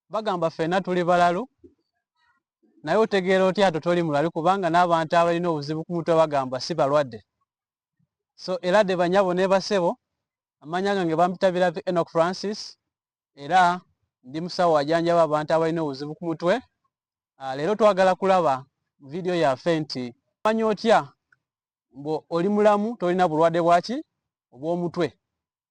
bagamba ffena tuli balalu naye otegeera otya ato toli mulali kubanga n'abantu abalina obuzibu ku mutwe bagamba si balwadde so era de banyabo ne basebo amanya gange bampita birabi enok francis era ndi musawo ajanjaba abantu abalina obuzibu ku mutwe ah, leero twagala kulaba vidiyo yaffe nti manya otya mbu oli mulamu tolina bulwadde bwaki obw'omutwe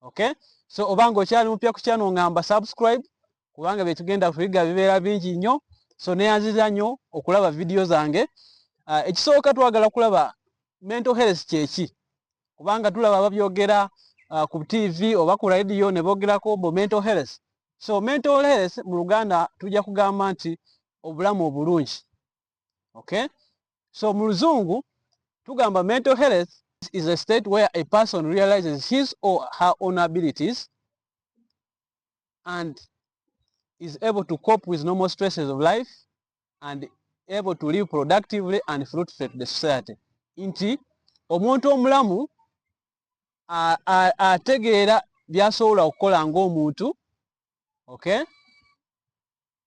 okay so obanga okyali mupya ku channel ngamba subscribe kubanga byetugenda kuyiga bibeera bingi nnyo so neyanziza nnyo okulaba vidiyo zange uh, ekisooka twagala kulaba mental health kyeki kubanga tulaba babyogera uh, ku tv oba ku radio ne bogerako mbu mental health so mental health mu luganda tujja kugamba nti obulamu obulungi okay so mu luzungu tugamba mental health is a state where a person realizes his or her own abilities and is able to cope with normal stresses of life and able to live productively and fruitfully to the society nti omuntu omulamu ategeera byasobola okukola ngaomuntu okay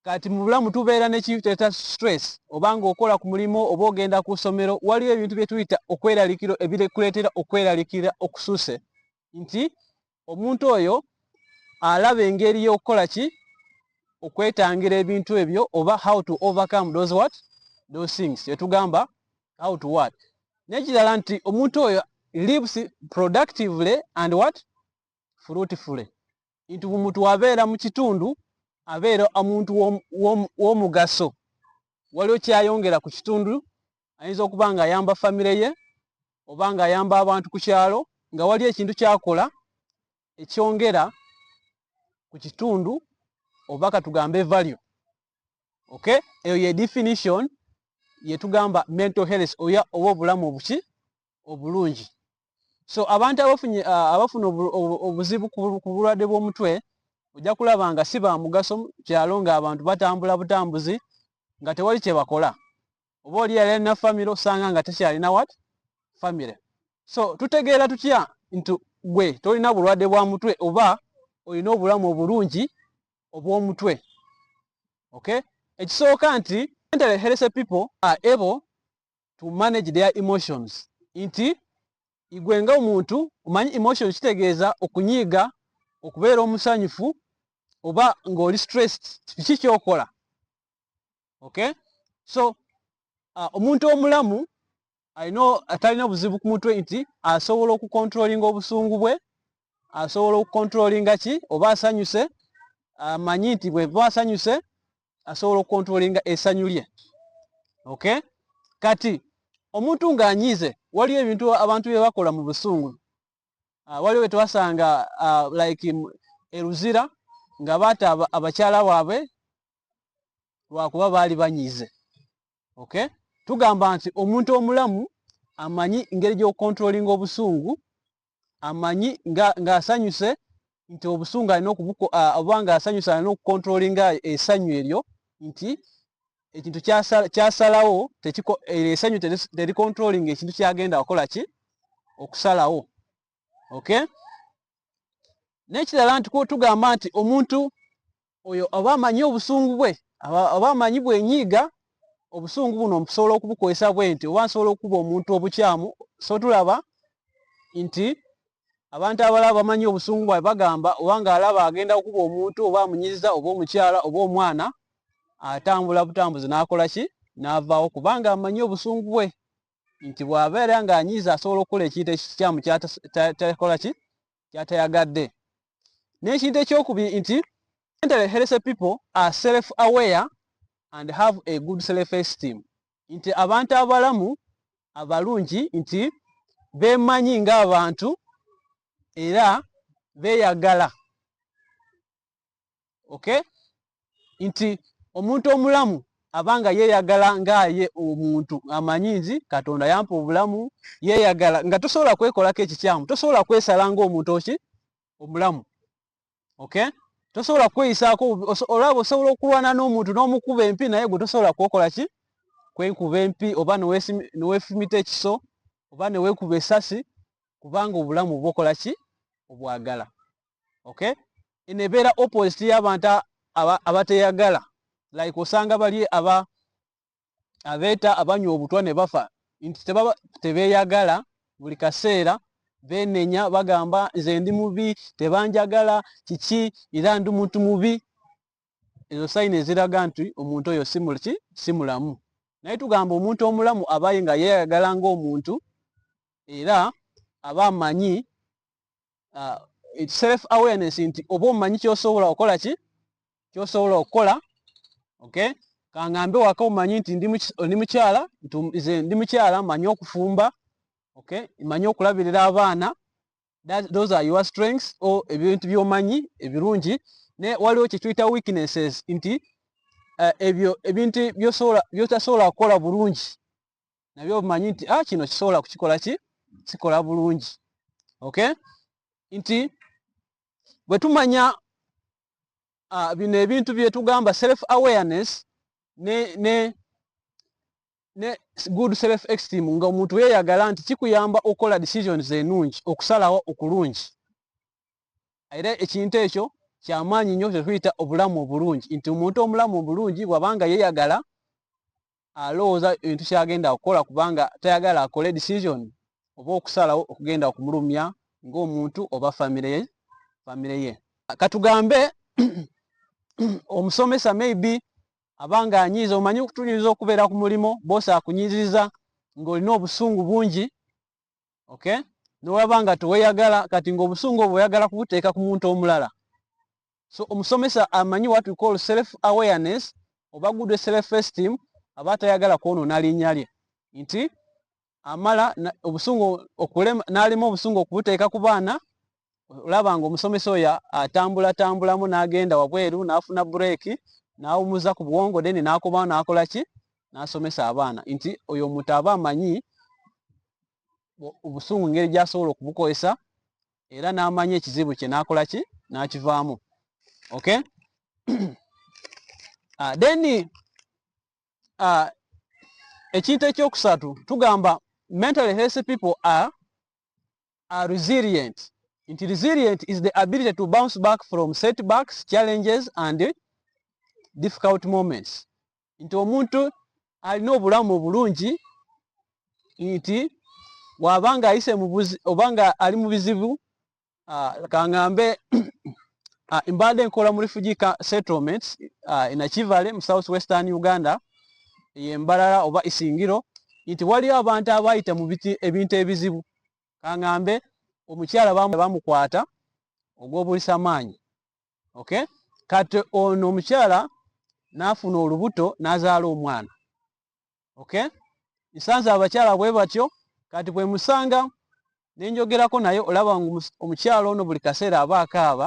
kati mu bulamu tubeera nekiteta stress obanga okola ku mulimu oba ogenda ku ssomero waliwo ebintu bye tuyita okweralikiro ebirekuleetera okweralikira okususe nti omuntu oyo alaba engeri y'okukola ki okwetangira ebintu ebyo oba how to overcome those what those things etugamba how to what nekirala nti omuntu oyo lives productively and what fruitfully nti omuntu abeera mu kitundu abeera omuntu w'omugaso waliwo kyayongera ku kitundu ayinza okuba nga ayamba famire ye oba nga ayamba abantu ku kyalo nga wali ekintu kyakola ekyongera ku kitundu oba katugambe value ok eyo ye definition yetugamba mental health oya oba obulamu obuki obulungi so abantu abafunye abafuna obuzibu ku bulwadde bw'omutwe ojja kulaba nga si bamugaso kyalo nga abantu batambula butambuzi nga tewali kyebakola oba oli yali alina famire osanga nga tekyalina wat famire so tutegeera tutya nti gwe tolina bulwadde bwa mutwe oba olina obulamu obulungi obw'omutwe okay ekisooka nti mental healthy people are able to manage their emotions nti igwe nga omuntu omanyi emotion kitegeeza okunyiiga okubeera omusanyufu oba ng'oli stressed kiki kyokola okay so uh, omuntu omulamu alina atalina buzibu ku mutwe nti asobola okukontrolinga obusungu bwe asobola okukontrolinga ki oba asanyuse amanyi nti bweva asanyuse asobola okukontrolinga esanyu lye okay kati omuntu ng'anyiize waliwo ebintu abantu bye bakola mu busungu ah, waliwo bye twasanga ah, like eruzira nga baata abakyala baabwe lwakuba baali banyiize okay tugamba nti omuntu omulamu amanyi ngeri gy'okukontrolinga obusungu amanyi ng'asanyuse nga nti obusungu alina oba ng'asanyuse alina okukontrolinga esanyu eryo nti ekintu kyasalawo eryo esanyu terikontrolinga ekintu kyagenda wakola ki okusalawo okay nekirala nti tugamba nti omuntu oyo oba amanyi obusungu bwe oba amanyi bwenyiiga obusungu buno mpusobola okubukozesa bwe nti oba nsobola okukuba omuntu obukyamu so tulaba nti abantu abalaba bamanyi obusungu bwae bagamba oba nga alaba agenda okukuba omuntu oba amunyiziza oba omukyala oba omwana atambula butambuzi n'akola ki n'avaawo kubanga amanyi obusungu bwe nti bw'abeera ng'anyiiza asobola okukola ekintu ekikyamu kyatakola ki kyatayagadde n'ekintu ekyokubiri nti mentally healthy people are self aware and have a good self esteem nti abantu abalamu abalungi nti beemanyi ng'abantu era beeyagala okay nti omuntu omulamu abanga yeyagala ngaaye omuntu amanyi nzi katonda yampa obulamu yeyagala nga tosobola kwekolako ekikyamu tosobola kwesala ngaomuntu oki omulamu okay tosobola kweyisaako olaba osobola okulwana n'omuntu n'omukuba empi naye gwe tosobola kwokola ki kwenkuba empi oba newefumita ekiso oba newekuba esasi kubanga obulamu bwokola ki obwagala okay eno ebeera opposite y'abantu abateyagala like osanga bali aba abeeta abanywa obutwa ne bafa nti tebaba tebeyagala buli kaseera benenya bagamba nze ndi mubi tebanjagala kiki era ndi muntu mubi ezo sayini eziraga nti omuntu oyo simulki simulamu naye tugamba omuntu omulamu abaye nga yeyagala ngaomuntu era aba amanyi uh, self awareness nti oba omanyi kyosobola okola ki kyosobola okukola okay kangambe waka omanyi nti ndi mukyala nze ndi mukyala manyi okufumba okay manyi okulabirira abaana those are your strengths o ebintu byomanyi ebirungi ne waliwo kyetuyita weaknesses nti uh, ebyo ebintu byosobola byotasobola kukola bulungi nabyo obimanyi nti ah, kino kisobola kukikola ki kikola bulungi okay nti bwe tumanya uh, bino ebintu bye tugamba self awareness ne ne ne good self esteem nga omuntu yeeyagala nti kikuyamba okukola decisions enungi okusalawo okulungi era ekintu ekyo kyamaanyi nnyo kyetuyita obulamu obulungi nti omuntu omulamu obulungi bwabanga yeeyagala alowooza ebintu kyagenda kukola kubanga tayagala akole decision oba okusalawo okugenda okumulumya ng'omuntu oba famire ye famire ye katugambe omusomesa maybe abanga anyiiza omanyi okutunyiriza okubeera ku mulimu boosi akunyiririza ng'olina obusungu bungi okay nolaba nga teweyagala kati ngaobusungu obwo oyagala kubuteeka ku muntu omulala so omusomesa amanyi what we call self awareness oba good self esteem aba tayagala kwonona linnya lye nti amala obusungu okulema n'alima obusungu okubuteeka ku baana olaba nga omusomesa oyo atambulatambulamu n'agenda wabweru n'afuna bureeki n'awumuza ku bwongo then n'akobawo n'akola ki n'asomesa abaana nti oyo omuntu aba amanyi obusungu ngeri gy'asobola okubukozesa era n'amanya ekizibu kye n'akola ki n'akivaamu okay uh, then uh, ekintu ekyokusatu tugamba mentally healthy people are, are resilient nti resilient is the ability to bounce back from setbacks challenges and difficult moments nti omuntu alina obulamu obulungi nti waba nga ayise mubuzi oba nga ali mu bizibu ah, kangambe ah, mbadde nkola mu refugee settlement ah, enakivale mu south western uganda eyembalala oba isingiro nti waliyo abantu abayita mu ebintu ebizibu kangambe omukyala bamukwata ogw'obulisa maanyi okay kati ono omukyala n'afuna olubuto n'azaala omwana okay nsanze abakyala bwe batyo kati bwe musanga ne njogerako naye olaba ngu omukyala ono buli kaseera aba akaaba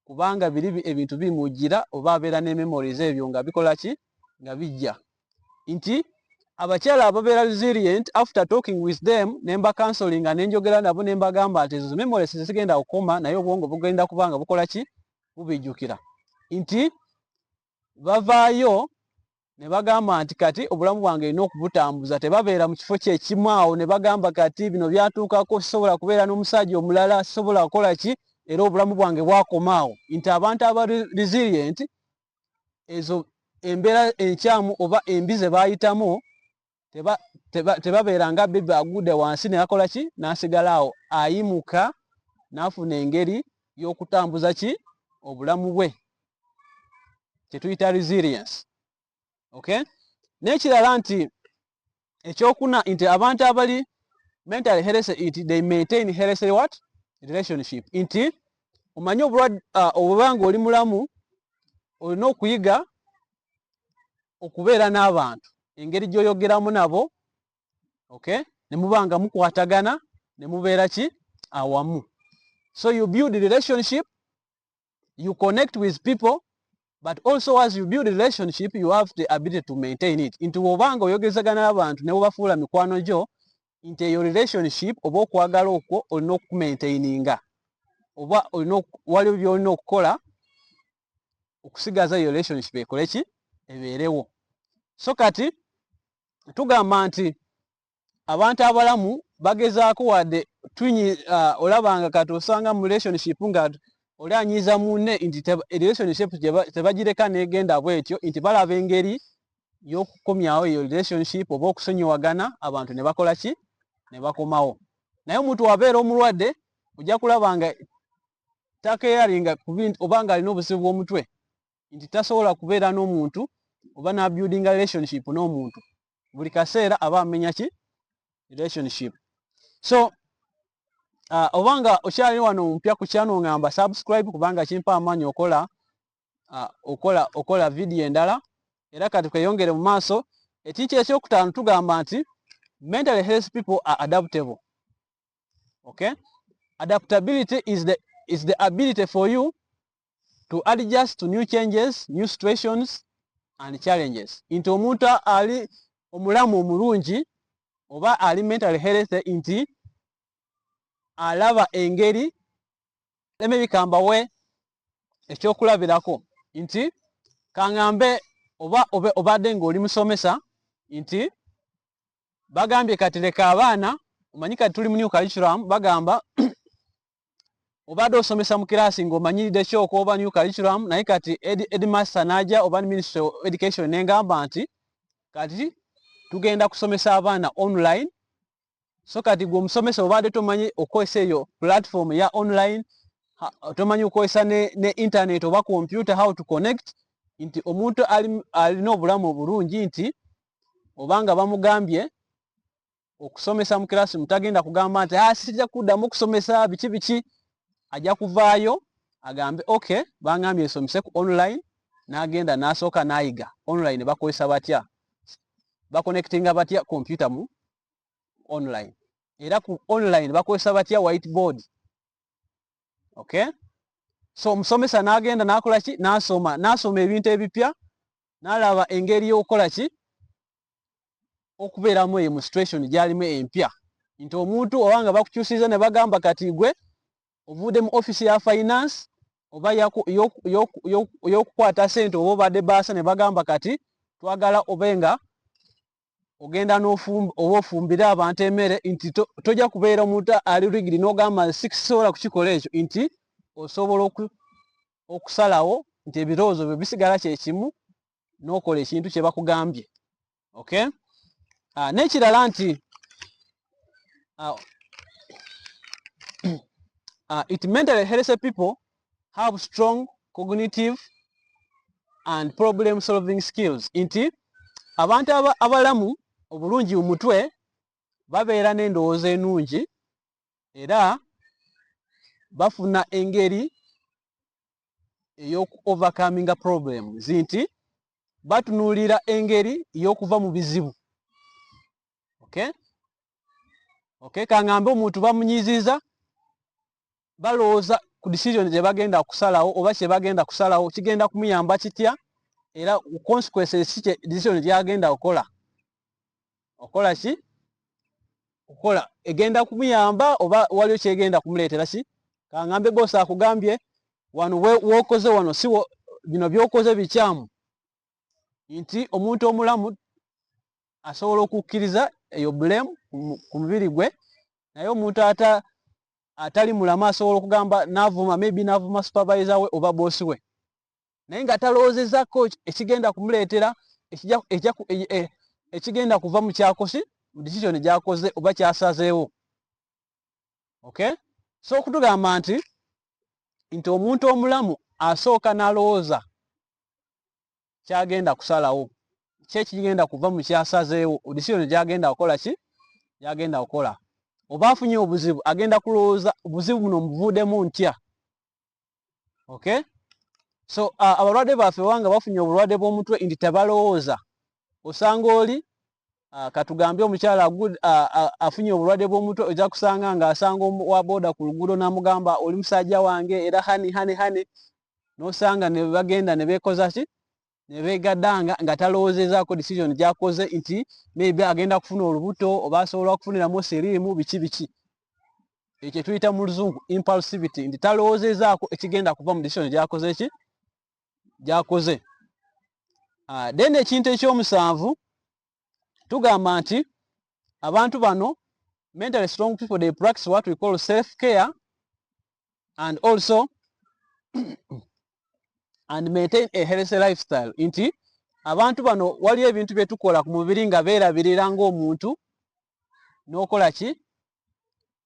kubanga biri ebintu bimujjira oba abeera ne memories ebyo nga bikola ki nga bijja nti abakyala ababeera resilient after talking with them nemba counseling nenjogera nabo nembagamba nti ezo memories zigenda kukoma naye obwongo bugenda kubanga bukola ki bubijukira nti bavaayo ne bagamba nti kati obulamu bwange erina okubutambuza tebabeera mu kifo kyekimu awo ne bagamba kati bino byatuukako sisobola kubeera n'omusajja omulala sisobola kukola ki era obulamu bwange bwakoma awo nti abantu aba resilient ezo embeera enkyamu oba embi ze baayitamu tebabeera nga bebe agudde wansi neyakola ki n'asigala awo ayimuka n'afuna engeri y'okutambuza ki obulamu bwe kyetuyita resilience okay n'ekirala nti ekyokuna nti abantu abali mentally healthy it they maintain healthy what relationship nti omanyi obulwadde uh, obubanga oli mulamu olina okuyiga okubeera n'abantu engeri gy'oyogeramu nabo ok ne muba nga mukwatagana ne mubeera ki awamu so you build relationship you connect with people but also as you build relationship you have the ability to maintain it nti wobanga oyogezagana n'abantu ne wobafuula mikwano gyo nti eyo relationship oba okwagala okwo olina okumaintaininga oba olina waliwo byolina okukola okusigaza eyo relationship ekole ki ebeerewo so kati tugamba nti abantu abalamu bagezaako wadde twinyi uh, olabanga kati osanga mu relationship nga oli anyiiza munne nti relationship tebagireka negenda bwetyo nti balaba engeri yokukomyawo eyo relationship oba okusonyiwagana abantu ne bakola ki ne bakomawo naye omuntu wabeera omulwadde ojja kulaba nga takeyaringa oba nga alina obuzibu bw'omutwe nti tasobola kubeera n'omuntu oba na building relationship n'omuntu buli kaseera aba amenya ki relationship so uh, oba nga okyali wano ompya ku kyano ngamba subscribe kubanga kimpa amaanyi okola uh, okola okola vidiyo endala era kati kweyongere mu maaso ekintu ekyokutaano tugamba nti mentally health people are adaptable okay adaptability is the, is the ability for you to adjust to new changes, new situations and challenges. Nti omuntu ali omulamu omulungi oba ali mental health nti alaba engeri leme bikambawe ekyokulabirako nti kangambe oba obadde ng'oli musomesa nti bagambye kati leka abaana omanyi kati tuli mu new curriculum bagamba obadde osomesa mu kiraasi ng'omanyiride ki okwoba new curriculum naye kati edmaster n'aja oba ministry of education nengamba nti kati tugenda kusomesa abaana online so kati gwe omusomesa obadde tomanyi okukozesa eyo platform ya online tomanyi okukozesa ne, ne internet oba computer how to connect nti omuntu alina obulamu obulungi nti obanga bamugambye okusomesa mu classroom tagenda kugamba nti ah sija kudamu okusomesa biki biki aja kuvaayo agambe okay bangambye esomese ku online nagenda nasoka nayiga online bakozesa batya ba connectinga batya computer mu online era ku online bakozesa batya whiteboard okay so omusomesa nagenda nakola ki nasoma nasoma ebintu ebipya nalaba engeri yokukola ki okubeeramu eyo mu situation gyalimu empya nti omuntu oba nga bakukyusiza ne bagamba kati gwe ovuudde mu office ya finance oba yokukwata sente oba obadde baasa ne bagamba kati twagala obe nga ogenda oba ofumbire abantu emere nti tojja kubeera omuntu ali rigidi n'ogamba sikisobola kukikola ekyo nti osobola okusalawo nti ebirowoozo byo bisigala kyekimu nokola ekintu kyebakugambye okay ah, nekirala nti ah, ah, it mentally healthy people have strong cognitive and problem solving skills nti abantu abalamu obulungi mu mutwe babeera n'endowooza enungi era bafuna engeri eyoku overcominga problems nti batunuulira engeri y'okuva mu bizibu okay? Okay? kangambe omuntu bamunyiziza balowooza ku decision gyebagenda kusalawo oba kyebagenda kusalawo kigenda kumuyamba kitya era consequences decision gyagenda okukola okola ki okola egenda kumuyamba oba waliyo kyegenda kumuleetera ki kangambe bosi akugambye wano wokoze wano si bino byokoze bikyamu nti omuntu omulamu asobola okukkiriza eyo bulemu ku mubiri gwe naye omuntu ata atali mulamu asobola okugamba navuma maybe navuma supervisor we oba bosi we naye nga talowoozezako ekigenda kumuleetera e, e, ekigenda kuva mu kyakosi mu decision gyakoze oba kyasazeewo okay so okutugamba nti nti omuntu omulamu asooka nalowooza kyagenda kusalawo kyekigenda kuva mu kyasazeewo decision gyagenda kukola ki gyagenda kukola oba afunye obuzibu agenda kulowooza obuzibu buno mubuvuudemu ntya okay so uh, abalwadde baffe wanga bafunye obulwadde bw'omutwe nti tebalowooza osanga oli uh, katugambye omukyala uh, afunye obulwadde bw'omutwe ojja kusanga ng'asanga wa booda ku luguudo n'amugamba oli musajja wange era hani hani hani n'osanga ne bagenda ne beekoza ki nebegadanga nga talowozezaako decision gyakoze nti maybe agenda kufuna olubuto oba asobola okufuniramu siriimu biki biki ekyo tuyita mu luzungu impulsivity nti talowozezaako ekigenda kuva mu decision gyakoze ki gyakoze ah, then ekintu ekyomusanvu tugamba nti abantu bano mentally strong people they practice what we call self care and also and maintain a healthy lifestyle nti abantu bano waliyo ebintu bye tukola ku mubiri nga beerabirira ng'omuntu n'okola ki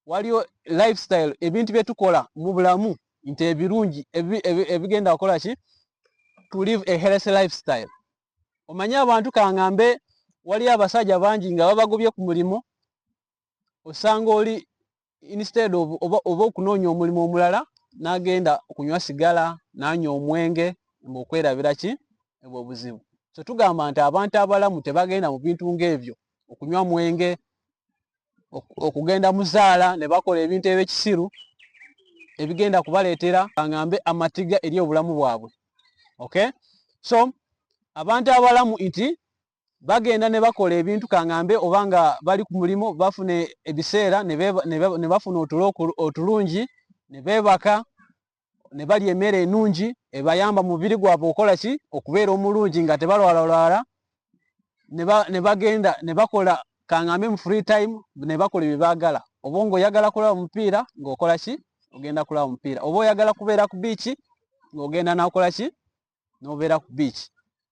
waliyo lifestyle ebintu bye tukola mu bulamu nti ebirungi ebigenda kukola ki to live a healthy lifestyle omanyi abantu kangambe waliyo abasajja bangi nga babagobye ku mulimu osanga oli instead of oba oba okunoonya omulimu omulala n'agenda okunywa sigala n'anywa omwenge mbu okwerabira ki ebwo obuzibu so tugamba nti abantu abalamu tebagenda mu bintu ng'ebyo okunywa mwenge okugenda muzaala ne bakola ebintu ebyekisiru ebigenda kubaleetera angambe amatiga eri obulamu bwabwe okay so abantu abalamu nti bagenda ne bakola ebintu kangambe oba nga bali ku mulimu bafuna ebiseera ne bafuna otulo otulungi ne beebaka ne balya emmere enungi ebayamba mubiri gwabwe okola ki okubeera omulungi nga tebalwalalwala ne bagenda ne bakola kangambe mu free time ne bakola ebyo baagala oba ngaoyagala kulaba omupiira ngaokola ki ogenda kulaba omupiira oba oyagala kubeera ku biiki ngaogenda nakola ki nobeera ku beach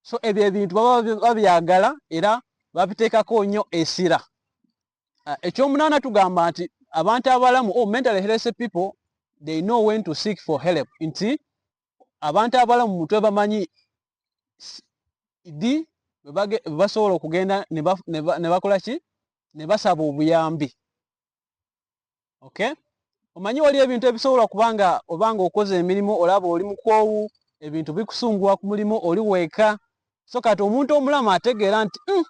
so ebyo ebintu baba babyagala era babiteekako nnyo esira ah, ekyomunaana tugamba nti abantu abalamu o oh, mental health people they know when to seek for help nti abantu abalamu mutwe bamanyi di basobola okugenda ne bakola ki ne basaba obuyambi okay omanyi wali ebintu ebisobola kuba nga oba nga okoze emirimu olaba oli mukwowu ebintu bikusumbuwa ku mulimu oli weeka so kati omuntu omulamu ategeera nti hmm,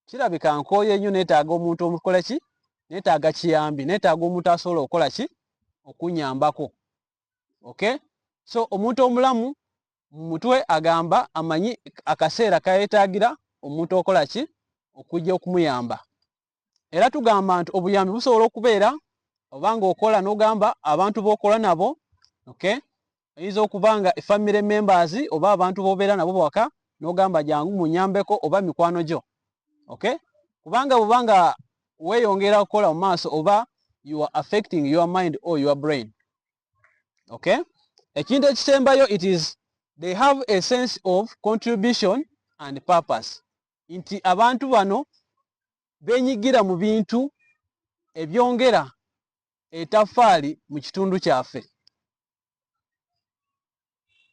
kirabika nkooye nnyo neetaaga omuntu omukola ki neetaaga kiyambi neetaaga omuntu asobola okukola ki okunyambako okay so omuntu omulamu mu mutwe agamba amanyi akaseera kayetaagira omuntu okola ki okujja okumuyamba era tugamba nti obuyambi busobola okubeera oba ng'okola n'ogamba abantu b'okola nabo okay oyinza okuba nga efamire members oba abantu b'obeera nabo bwaka n'ogamba jangu munyambeko oba mikwano gyo okay kubanga bwuba nga weeyongera okukola mu maaso oba you are affecting your mind or your brain okay ekintu ekisembayo it is they have a sense of contribution and purpose nti abantu bano benyigira mu bintu ebyongera etafaali mu kitundu kyaffe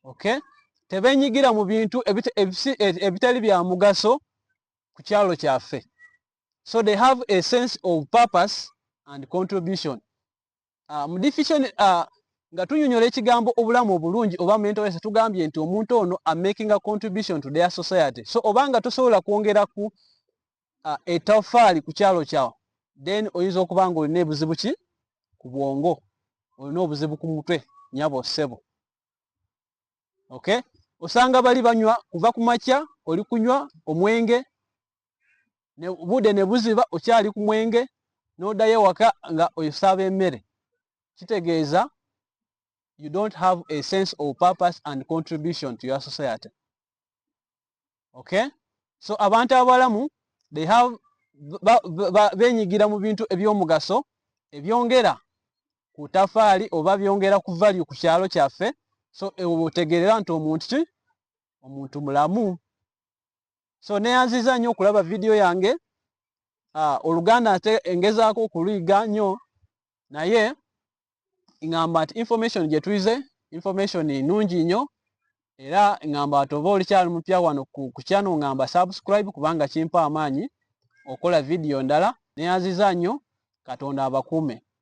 okay tebenyigira mu bintu ebitali bya mugaso ku kyalo kyaffe so they have a sense of purpose and contribution ah, mu definition ah, nga tunyonyola ekigambo obulamu obulungi oba mental health tugambye nti omuntu ono a making a contribution to their society so obanga tosobola kwongera ku uh, etafaali ku kyalo kyawo then oyinza okuba nga olina ebuzibu ki ku bwongo olina obuzibu ku mutwe nyabo sebo okay osanga bali banywa kuva ku makya oli kunywa omwenge budde ne buziba okyali ku mwenge n'oddayo ewaka nga osaaba emmere kitegeeza you don't have a sense of purpose and contribution to your society okay so abantu abalamu they have benyigira mu bintu ebyomugaso ebyongera ku tafaali oba byongera ku value ku kyalo kyaffe so ewo otegerera nti omuntu ki omuntu mulamu so neyanziza nnyo okulaba vidiyo yange ah, oluganda ate engezaako okuliga nnyo naye ngamba nti information gyetuize information nungi nnyo era ngamba nti oba olikyali mupya wano kukyano ngamba subscribe kubanga kimpa amaanyi okola vidiyo ndala neyanziza nnyo katonda abakuume